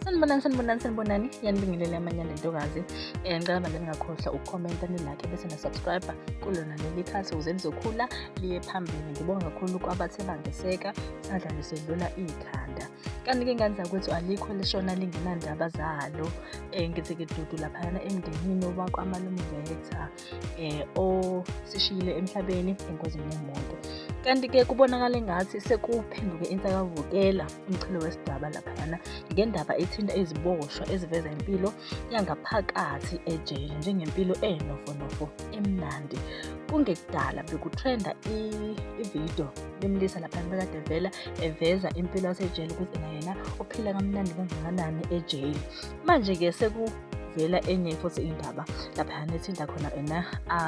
sanibonani sanibonani sanibonani yanibingelela amanyana ntokazi um eh, ngicela manje ningakhohlwa ukukhomenta nilakhe bese nasubscribe kulona leli khasi ukuze lizokhula liye phambili ngibonga kakhulu kwabathe bangeseka sadla lisedlula ikhanda kanti-ke ingane zakwethu alikho lishona lingenandaba zalo um eh, ngithi-ke dudu laphayana emndenini owakwamalumbetha eh osishiyile emhlabeni engozini yemoto kanti ke kubonakala engathi sekuphenduke insakavukela umchilo wesidaba laphayana ngendaba ethinta iziboshwa eziveza impilo yangaphakathi ejele njengempilo enofonofo emnandi kungekudala bekutrenda ividiyo limlisa laphana bekade vela eveza impilo yasejele ukuthi nayena uphila kamnandi kangakanani ejele manje-ke seku kuvela enye futhi indaba lapha nethinta khona ena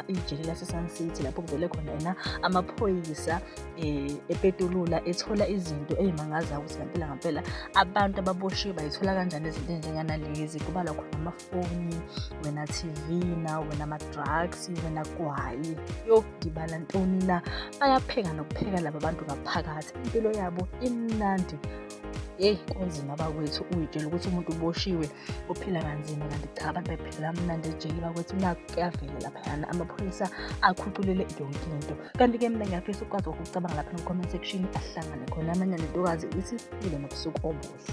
ijele lasesun city lapho kuvele khona ena amaphoyisa um epetulula ethola izinto eyimangazayo ukuthi ngampela ngampela abantu ababoshiwe bayithola kanjani izinto enjenganalezi kubalwa khona amafoni wena tv na wena ama-drugs wena kwayi yokudibala ntoni na bayapheka nokupheka laba bantu ngaphakathi impilo yabo imnandi yeyi kunzima bakwethu uyitshela ukuthi umuntu uboshiwe uphila kanzima kanti cha abantu bephila mnandi ejele bakwethu nakho kuyavela laphayana amaphoyisa akhuculele yonke into kanti-ke mina ngiyafisa ukwazi ukucabanga lapha no-comment section ahlangane khona amanye nentokazi ithi ile nobusuku obuhle